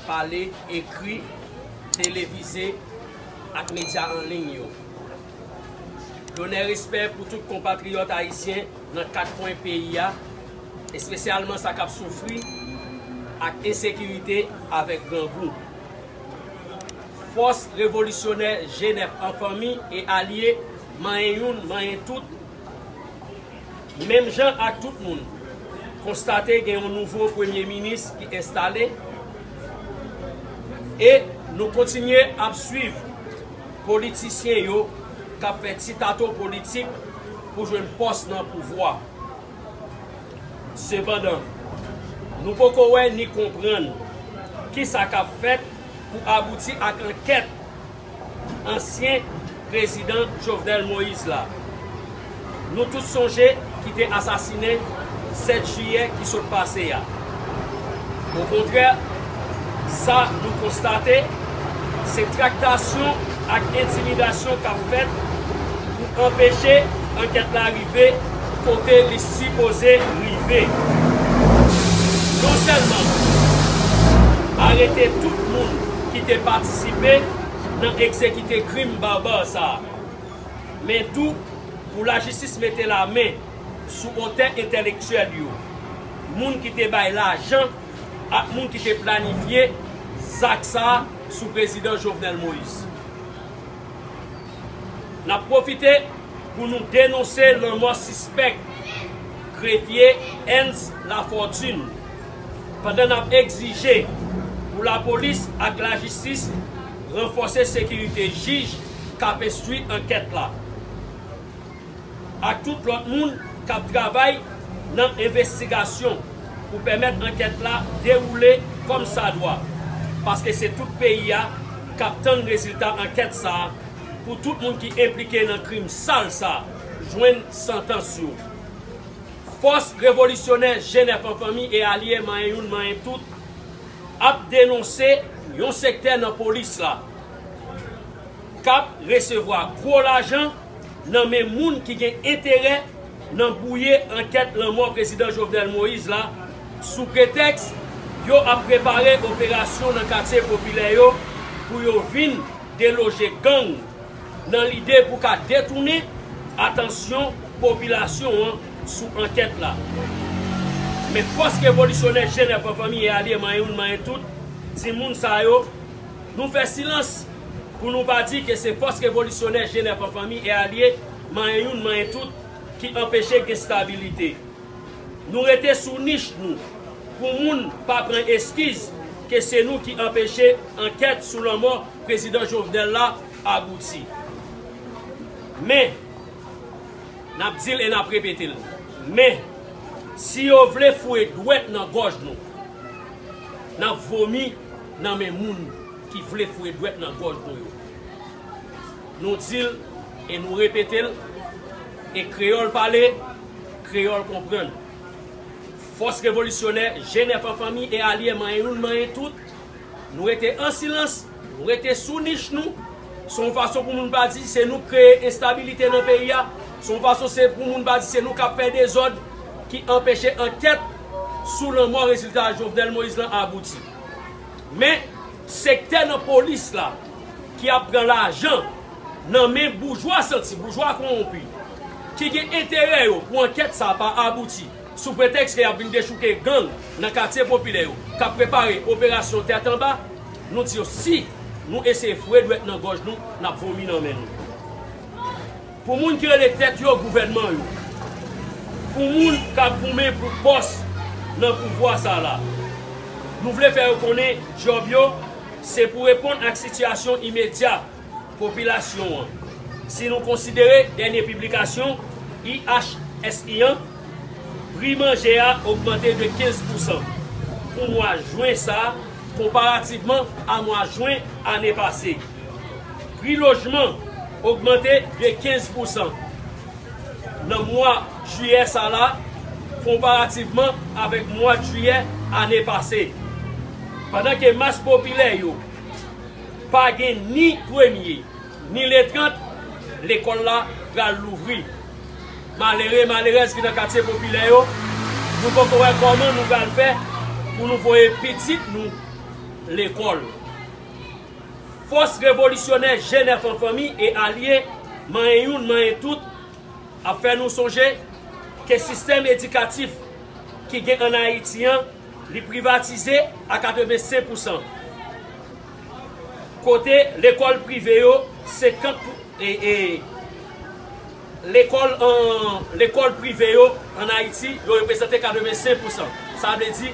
pale, ekri, televize ak medya an liy yo. Lonè respè pou tout konpatriyòt ayisyen nan kat kwen peyi a, espesyalman sa k ap soufri ak ensekirite avèk grangou. Fòs revolisyonè Jenèf an fanmi e alye manyen youn manyen tout, Menm jan ak tout moun, konstate gen yon nouvo premye minis ki enstale e nou kontinye ap swiv politisyen yo k ap fè ti tato politik pou jwenn pòs nan pouvwa. Sepandan, nou poko wè ni konprann kisa k ap fèt pou abouti ak ankèt ansyen prezidan Jovenel Moïse la, nou tout sonje ki te asasine 7 jiyè ki sot pase a. Okontrè, sa nou konstate, se traktasyon ak entimidasyon k ap fèt pou anpeche ankèt la rive kote li sipoze rive. Non sèlman arete tout moun, ki te patisipe nan egzekite krim barbar sa a, men tou pou lajistis mete la men sou otè entèlektyèl yo, moun ki te bay lajan ak moun ki te planifye zak sa a sou prezidan Jovenel Moise. N ap pwofite pou nou denonse lanmò sispèk grefye Ernst Lafortune, pandan n ap egzije pou lapolis ak lajistis ranfòse sekirite jij k ap enstwi ankèt la ak tout lòt moun k ap travay nan envestigasyon pou pèmèt ankèt la dewoule kòm sa dwa paske se tout peyi a k ap tann rezilta ankèt sa a pou tout moun ki enplike nan krim sal sa jwenn santans yo. Fòs revolisyonè Jenè Fanfanmi e alye Manyen Youn Manyen Tout ap denonse yon sektè nan polis la k ap resevwa gwo lajan nan men moun ki gen enterè nan bwouye ankèt lanmò Prezidan Jovenel Moïse la sou pretèks yo ap prepare operasyon nan katye popilè yo pou yo vin deloje gang nan lide pou ka detounen atansyon popilasyon an sou ankèt la. Men fòs revolisyonè Jenè Fanfanmi e alye manyen youn manyen tout ti moun sa yo, nou fè silans pou nou pa di ke se fòs revolisyonè Jenè Fanfanmi e alye manyen youn manyen tout ki anpeche gen stabilite. Nou rete sou nich nou pou moun pa pran eskiz ke se nou ki anpeche ankèt sou lanmò Prezidan Jovenel la abouti. Men, nap dil e nap repetel, men, si yo vle foure dwèt nan gòj nou, nap vomi nan men moun ki vle foure dwèt nan gòj nou yo. Nou dil e nou repetel, e kreyòl pale, Kreyòl konprann. Fòs revolisyonè, Jenèf an fanmi e alye manyen youn manyen tout, nou rete an silans, nou rete sou nich nou, se yon fason pou moun pa di se nou k kreye enstabilite nan peyi a, se yon fason se pou moun pa di se nou k ap fè dezòd ki anpeche ankèt sou lanmò rezilta Jovenel Moïse lan abouti. Men, sektè nan polis la ki ap pran lajan. nan men boujwa santi, boujwa kowonpi, ki gen enterè yo pou ankèt sa a pa abouti, sou pretèks ke y ap vin dechouke gang nan katye popilè yo k ap prepare operasyon tèt anba, nou di yo si nou eseye foure dwèt nan gòj nou, n ap vomi nan men nou. Pou moun ki rele tèt yo gouvènman yo, pou moun k ap goumen pou pòs nan pouvwa sa a la, nou vle fè yo konnen djòb yo se pou reponn ak sitiyasyon imedya, popilasyon an. Si nou konsidere dènye piblikasyon IHSI an, pri manje a ogmante de 15 pousan pou mwa jwen sa a konparativman a mwa jwen ane pase. Pri lojman ogmante de 15 pousan nan mwa jiyè sa la konparativman avèk mwad jiyè ane pase. Pandan ke mas popilè yo. Pa gen ni premye, ni le 30, lekòl la pral louvri. Malere, malerèz ki nan katye popilè yo, nou poko wè kòman nou pral fè pou nou voye pitit nou lekòl. Fòs revolisyonè Jèn Èf an Fanmi e Alye, manyen youn, manyen tout, ap fè nou sonje ke sistèm edikatif ki gen an Ayiti an, Li privatize a 85 pou san. Kote lekòl prive yo 50 pou e lekòl an lekòl prive yo an Ayiti yo reprezante 85 pou san. Sa vle di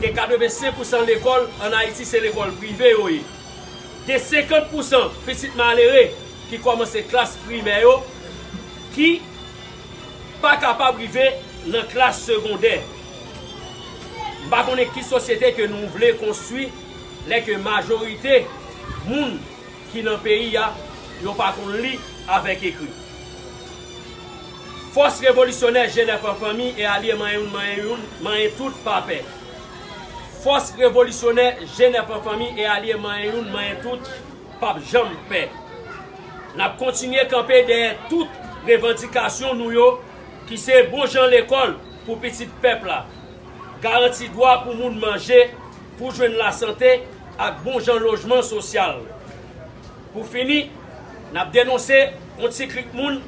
ke 85 pou san lekòl an Ayiti se lekòl prive yo ye. Gen 50 pou san pitit malere ki kòmanse klas primè yo ki pa kapab rive nan klas segondè. M pa konnen ki sosyete ke nou vle konstwi lè ke majorite moun ki nan peyi a yo pa konn li avèk ekri. Fòs revolisyonè Jenèf an fanmi e alye manyen youn manyen youn manyen tout pa pè. Fòs revolisyonè Jenèf an fanmi e alye manyen youn manyen tout. pap janm pè. N ap kontinye kanpe dèyè tout revandikasyon nou yo ki se bon jan lekòl pou pitit pèp la, garanti dwa pou moun manje, pou jwenn lasante ak bon jan lojman sosyal. Pou fini, n ap denonse yon ti klik moun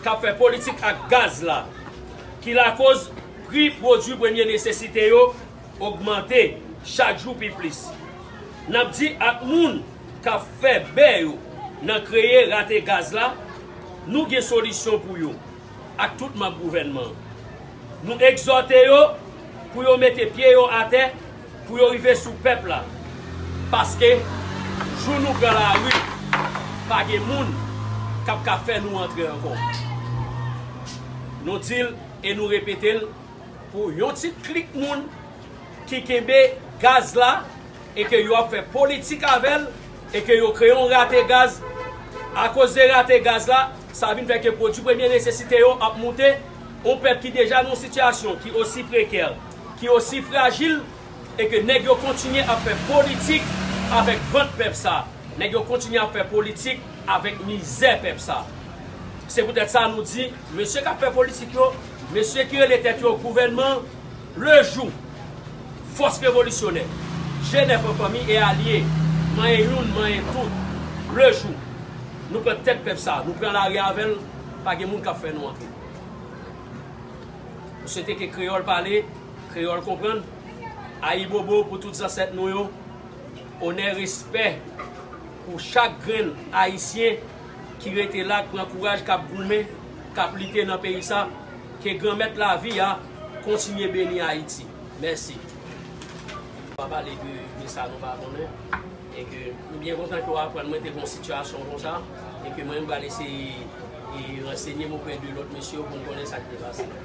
k ap fè politik ak gaz la ki lakoz pri pwodui premye nesesite yo, ogmante chak jou pi plis. N ap di ak moun k ap fè bè yo nan kreye rate gaz la, nou gen solisyon pou yo ak tout manb gouvènman an. Nou egzòte yo pou yo mete pye yo atè pou yo rive sou pèp la paske jou nou pran lari pa gen moun k ap ka fè nou antre ankò. Nou di l e nou repete l. Pou yon ti klik moun ki kenbe gaz la e ke yo ap fè politik avè l e ke yo kreye yon rate gaz, akoz de rate gaz la, sa vin fè ke pwodui premye nesesite yo ap moute, yon pèp ki deja nan yon sitiyasyon ki osi prekè, ki osi frajil. E ke nèg yo kontinye ap fè politik avèk vant pèp sa. Nèg yo kontinye ap fè politik avèk mizè pèp sa. Se poutèt sa nou di, mesye kap fè politik yo, mesye ki rele tèt yo gouvènman, le jou fòs revolisyonè, je nèf an fanmi e alye, manyen youn, manyen tout, le jou nou pran tèt pèp sa, nou pran lari avè l, pa gen moun kap fè nou anke. M swete ke kreyòl pale. Kreyòl konprann, Ayibobo pou tout zansèt nou yo, onè respè pou chak grenn ayisyen ki rete la k pran kouraj kap goumen kap lite nan peyi sa ke granmèt lavi a kontinye beni ayiti mèsi. Nou pa pale de sa nou pa konnen e ke nou byen kontan ke w aprann mwen te gon sitiyasyon konsa e ke mwen menm pral eseye ransenye m oprè de lòt mesye yo pou m konnen sa k te pase.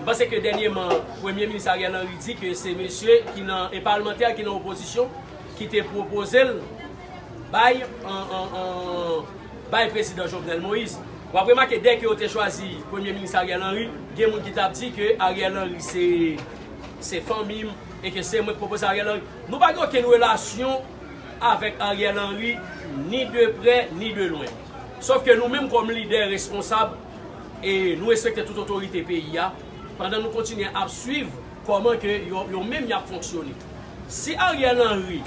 M panse ke dènyeman Premye Minis Ariel Henry di ke se mesye ki nan, e palmantè ki nan opozisyon ki te pwopoze l bay bay Prezidan Jovenel Moïse. W ap remake dèke yo te chwazi Premye Minis Ariel Henry, gen moun ki t ap di ke Ariel Henry se se fanmi m e ke se mwen ki pwopoze Ariel Henry. Nou pa gen okenn relasyon avèk Ariel Henry ni de prè ni de lwen. Sof ke nou menm kòm lidè responsab, E nou respekte tout otorite peyi a pandan nou kontinye ap swiv kòman ke yo menm yap fonksyone. Si Ariel Henry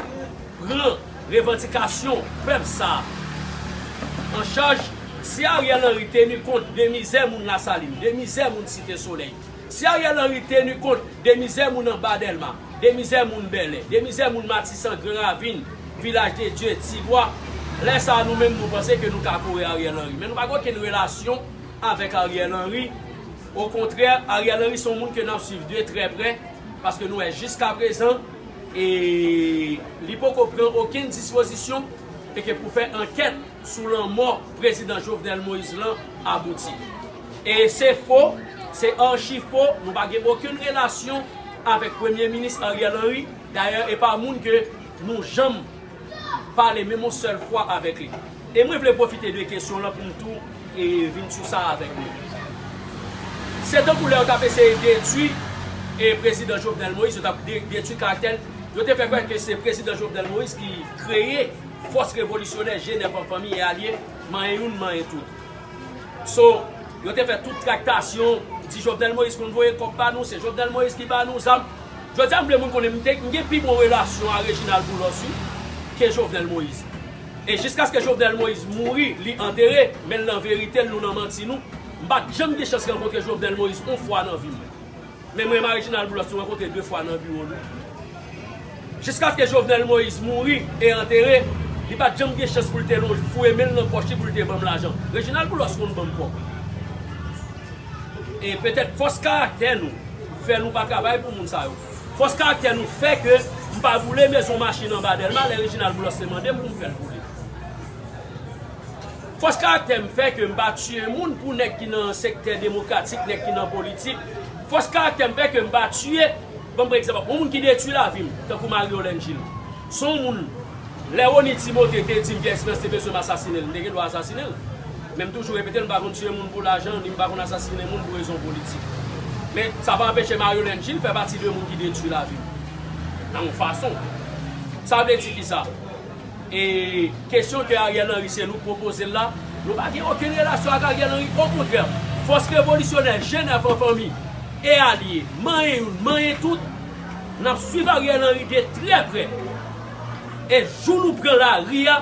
pran revandikasyon pèp sa an chaj, si Ariel Henry teni kont de mizè moun Lasalin, de mizè moun Site Solèy, Si Ariel Henry tenu kont de mizè moun anba Delma, de mizè moun Bèlè, de mizè moun Matisan, Gran Ravin, Vilaj de Dye, Ti Bwa, lè sa a nou menm nou panse ke nou ka kore Ariel Henry. Men nou pa gen okenn relasyon avèk Ariel Henry. Okontrè, Ariel Henry se yon moun ke n ap swiv de trè prè, paske nou wè jiska prezan e li poko pran okenn dispozisyon e ke pou fè ankèt. sou lanmò prezidan Jovenel Moïse lan abouti. E se fo, se archi fo, nou pa gen okenn relasyon avèk premye minis Ariel Henry, dayè e pa moun ke nou janm pale menm yon sèl fwa avèk li. E mwen vle pwofite de kesyon lan pou m tou e vin sou sa avèk nou. Se tankou lè yo t ap eseye detwi e prezidan Jovenel Moïse, yo t ap detwi karaktè l, yo te fè kwè ke se prezidan Jovenel Moïse ki kreye, Fòs revolisyonè Jenèv an fanmi e alye, manyen youn manyen tout. So, yo te fè tout traktasyon, di Jovenel Moïse konn voye kòb ba nou, se Jovenel Moïse ki ba nou zam. Jodi a m vle moun konnen m gen pi bon relasyon a Reginald Boulos wi ke Jovenel Moïse. E jiskaske Jovenel Moïse mouri, li antere, men l nan verite l, nou nan manti nou, m pa t janm gen chans rankontre Jovenel Moïse on fwa nan vi m. Men mwen Marijinal Boulos nou rankontre 2 fwa nan biwo nou. Jiskaske Jovenel Moïse mouri e antere, li pa t janm gen chans pou l te lonje, fouye men l nan pòch li pou l te ban m lajan. Rejinal Boulos konn ban m kòb. E petèt fòs karaktè nou fè nou pa travay pou moun sa yo. Fòs karaktè nou fè ke m pa boule mezon machin anba Dèlma lè Rejinal Boulos te mande m pou m fè l boule. Fòs karaktè m fè ke m pa tiye moun pou nèg ki nan sektè demokratik, nèg ki nan politik. Fòs karaktè m fè ke m pa tiye, ban m pran egzanp, yon moun ki detwi lavi m, tankou Marie-Olène Gilles. Se yon moun, lè Rony Timothée te di m Pierre Esperance te bezwen m asasine l, m te gen dwa asasine l. Men m toujou repete l, m pa konn tiye moun pou lajan, ni m pa konn asasine moun pou rezon politik. Men, sa pa anpeche Marie-Olène Gilles fè pati de moun ki detwi lavi m, nan yon fason. Sa vle di kisa? E kesyon ke Ariel Henry se nou pwopozel la, nou pa gen okenn relasyon ak Ariel Henry, okontrè, fòs revolisyonè Jenèf an fanmi e alye, manyen youn, manyen tout, nap swiv Ariel Henry de trè prè, e jou nou pran lari a,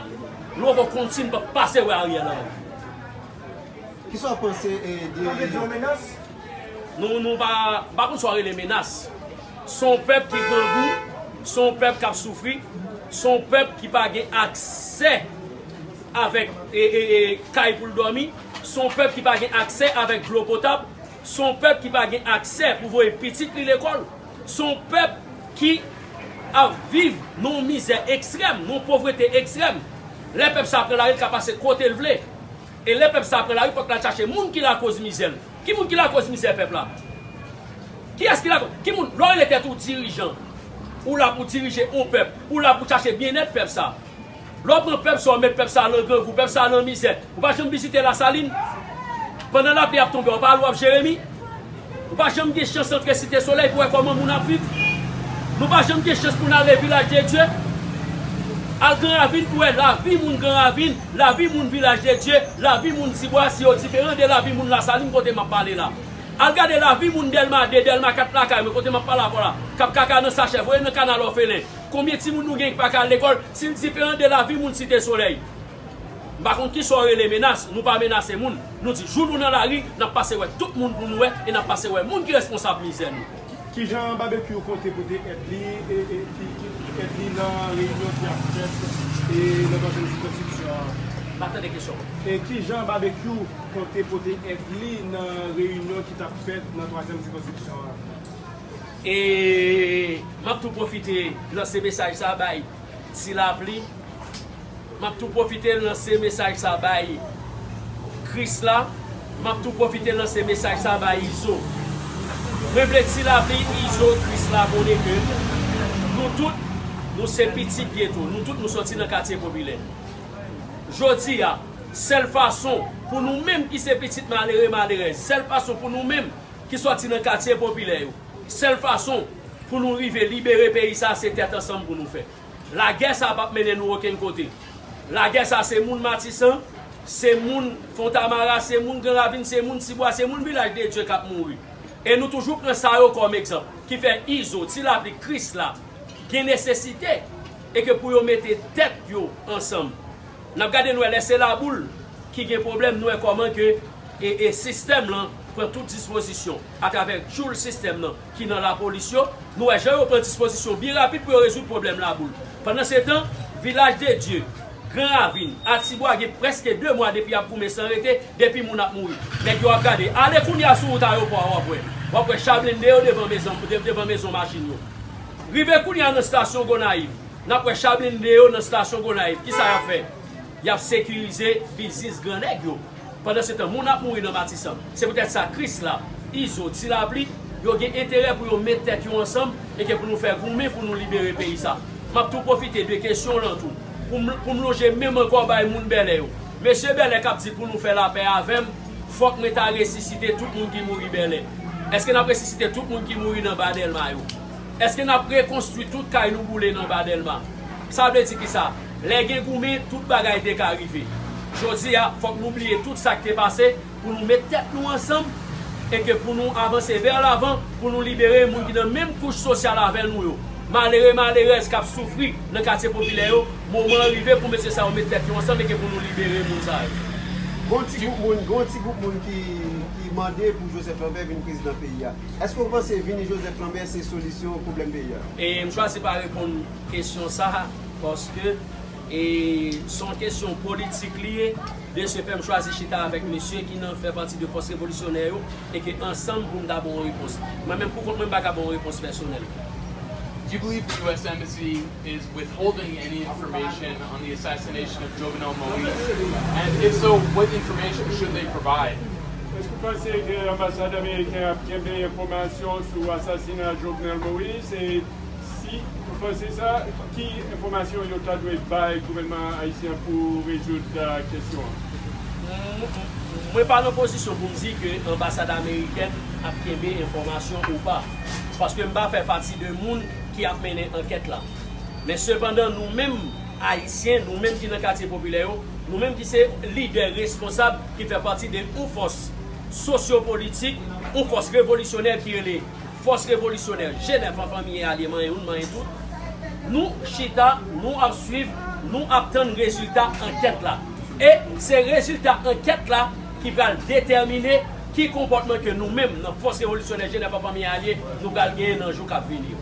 nou poko konn si nou pap pase wè Ariel Henry. Kisa w panse de. Sa vle di yon menas? Nou, nou pa, m pa konn sa w rele menas. Se yon pèp ki grangou, se yon pèp k ap soufri, se yon pèp ki pa gen aksè avèk kay pou l dòmi, se yon pèp ki pa gen aksè avèk dlo potab, se yon pèp ki pa gen aksè pou voye pitit li lekòl, se yon pèp ki ap viv nan yon mizè ekstrèm, nan yon povrete ekstrèm. Lè pèp sa pran lari, l ka pase kote l vle. E lè pèp sa pran lari fòk lal chache moun ki lakoz mizè l. Ki moun ki lakoz mizè pèp la? Kiyès ki lakoz? Ki moun? Lè w rele tèt ou dirijan, ou la pou dirije yon pèp, ou la pou chache byennèt pèp sa. Lè w pran pèp sa w met pèp sa lan grangou, pèp sa lan mizè. Ou pa janm vizite Lasalin? Pandan lapli ap tonbe w pa al w ap Jeremi? Nou pa janm gen chans antre Site Solèy pou wè kòman moun ap viv. Nou pa janm gen chans pou n ale Vilaj de Dye, al Gran Ravin pou wè lavi moun Gran Ravin, lavi moun Vilaj de Dye, lavi moun Tibwa, si yo diferan de lavi moun Lasalin kote m ap pale la. Al gade lavi moun Dèlma 2, Dèlma 4 lakay mwen kote m ap pale avè w la k ap kaka nan sachè voye nan kanal òfelen. Konbyen timoun nou gen ki pa ka al lekòl si l diferan de lavi moun Site Solèy? M pa konn kisa w rele menas, nou pa menase moun, nou di jou nou nan lari, n ap pase wè tout moun pou nou wè e n ap pase wè moun ki responsab mizè nou. Kijan Babekyou konte pote èd li èd li nan reyinyon ki ap fèt nan Konsèy Sikonstriksyon an? M pa tande kesyon an. Kijan Babekyou konte pote èd li nan reyinyon ki t ap fèt nan Twazyèm Sikonstriksyon an? E m ap tou pwofite lanse mesaj sa a bay. Ti lapli, M ap tou pwofite lanse mesaj sa bay Krisla, M ap tou pwofite lanse mesaj sa bay Izo. Mwen vle Ti lapli, Izo, Krisla konnen ke nou tout nou se pitit geto, nou tout nou sòti nan katye popilè. Jodi a, sèl fason pou nou menm ki se pitit malere, malerèz, sèl fason pou nou menm ki sòti nan katye popilè yo, Sèl fason pou nou rive libere peyi sa se tèt ansanm pou nou fè. Lagè sa pap mennen nou okenn kote. Lagè sa se moun Matisan, se moun Fontamara, se moun Gran Ravin, se moun Tibwa, se moun Vilaj de Dye kap mouri. E nou toujou pran sa yo kòm egzanp. Ki fè Izo, Ti Lapli, Krisla gen nesesite e ke pou yo mete tèt yo ansanm. Nap gade nou wè lè se Laboul ki gen pwoblèm nou wè kòman ke sistèm lan pran tout dispozisyon. Atravè tchoul sistèm nan ki nan lapolis yo, nou wè jan yo pran dispozisyon byen rapid pou yo rezoud pwoblèm Laboul. Pandansetan, Vilaj de Dye, Gran Ravin, Atibwa gen prèske 2 mwa depi y ap goumen san rete, depi moun ap mouri, nèg yo ap gade. Ale kounye a sou wout ayopò a w ap wè. W ap wè cha blende yo devan mezon machin yo. Rive kounye a nan stasyon Gonayiv, n ap wè cha blende yo nan stasyon Gonayiv. Kisa y ap fè? Y ap sekirize biznis gran nèg yo. Pandansetan, moun ap mouri nan Matisan. Se poutèt sa, Krisla, Izo, Ti Lapli, yo gen enterè pou yo met tèt yo ansanm e ke pou nou fè goumen pou nou libere peyi sa. M ap tou pwofite de kesyon w lan tou pou m lonje men m ankò bay moun Bèlè yo. Mesye Bèlè k ap di pou nou fè lapè avè m, fòk mwen ta resisite tout moun ki mouri Bèlè. Èske n ap resisite tout moun ki mouri nan Ba Dèlma yo? Eske n ap rekonstwi tout kay nou boule nan Anba Dèlma? Sa vle di ki sa? Lè gen goumen, tout bagay te ka rive. Jodi a, fòk nou bliye tout sa k te pase pou nou met tèt nou ansanm e ke pou nou avanse vè lavan pou nou libere moun ki nan menm kouch sosyal avè nou yo. Malere, malerèz k ap soufri nan katye popilè yo, moman an rive pou mesye sa yo met tèt yo ansanm e ke pou nou libere moun sa yo. Gon ti gwoup moun, gon ti gwoup moun ki mande pou Joseph Lambert vin prezidan peyi a. Eske ou panse vini Joseph Lambert se solisyon pwoblèm peyi a? E m chwazi pa reponn kesyon sa a paske e se yon kesyon politik li ye, de se fè m chwazi chita avèk mesye ki nan fè pati de fòs revolisyonè yo e ke ansanm pou m ta ba w yon repons. Mwen menm pou kont mwen m pa ka ba w yon repons pèsonèl. Do you believe the US Embassy is withholding any information Èske ou panse ke anbasad ameriken ap kenbe enfòmasyon sou asasina Jovenel Moïse e si ou panse sa, ki enfòmasyon yo ta dwe bay gouvènman ayisyen an pou rezoud kesyon an? Mwen pa nan pozisyon pou m di ke anbasad amerikèn ap kenbe enfòmasyon ou pa, paske m pa fè pati de moun ki ap mennen ankèt la. Men sepandan nou menm Ayisyen, nou menm ki nan katye popilè yo, nou menm ki se lidè responsab ki fè pati de yon fòs sosyopolitik, yon fòs revolisyonè ki rele Fòs Revolisyonè Jenè Fanfanmiye Alye Manyen Youn Manyen Tout, nou chita, nou ap swiv, nou ap tann rezilta ankèt la. E se rezilta ankèt la ki pral detèmine ki konpòtman ke nou menm nan Fòs Revolisyonè Jenè Fanfanmiye Alye nou pral genyen nan jou k ap vini yo.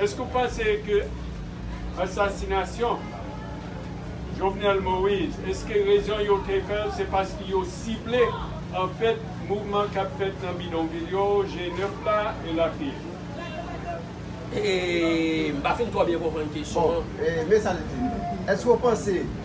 Eske ou panse ke ansasinasyon Jovenel Moise, eske rezon yo te fè l se paske yo sible anfèt mouvman k ap fèt nan bidonvil yo, G9 la, elatriye? E, m pa fin twò byen konprann kesyon an. Bon, e men sa l di, Eske ou panse.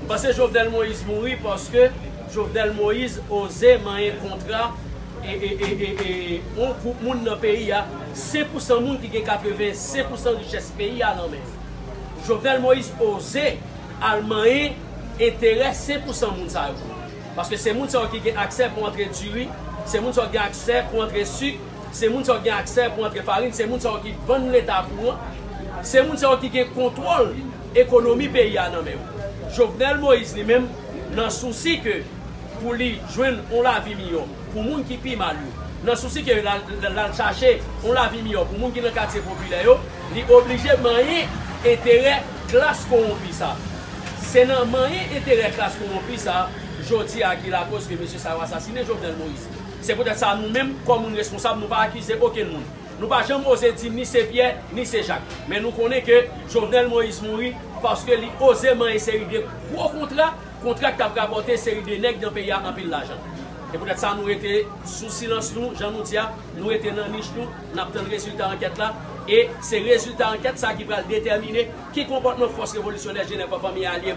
M panse Jovenel Moïse mouri paske Jovenel Moïse oze manyen kontra yon gwoup moun nan peyi a, 5 pou san moun ki gen 85 pou san richès peyi a nan men yo. Jovenel Moïse oze al manyen enterè 5 pou san moun sa yo. Paske se moun sa yo ki gen aksè pou antre diri, se moun sa yo ki gen aksè pou antre sik, se moun sa yo ki gen aksè pou antre farin, se moun sa yo ki vann leta kouran, se moun sa yo ki gen kontwòl Ekonomi peyi a nan men yo. Jovenel Moïse li menm nan sousi ke pou li jwenn yon lavi miyò pou moun ki pi mal yo, nan sousi ke l al chache yon lavi miyò pou moun ki nan katye popilè yo, li oblije manyen enterè klas kowonpi sa. Se nan manyen enterè klas kowonpi sa jodi a ki lakoz ke mesye sa yo asasinen Jovenel Moïse. Se poutèt sa nou menm kòm moun reskonsab nou pa akize okenn moun. Nou pa janm oze di ni se Pyè, ni se Jak. Men nou konnen ke Jovenel Moïse mouri paske li oze manyen seri de gwo kontra, kontra ki t ap rapòte seri de nèg nan peyi a anpil lajan. Se poutèt sa nou rete sou silans nou, jan nou di a, nou rete nan nich nou, n ap tann rezilta ankèt la. E se rezilta ankèt sa ki pral detèmine ki konpòtman Fòs Revolisyonè Jenè Fanmi Alye.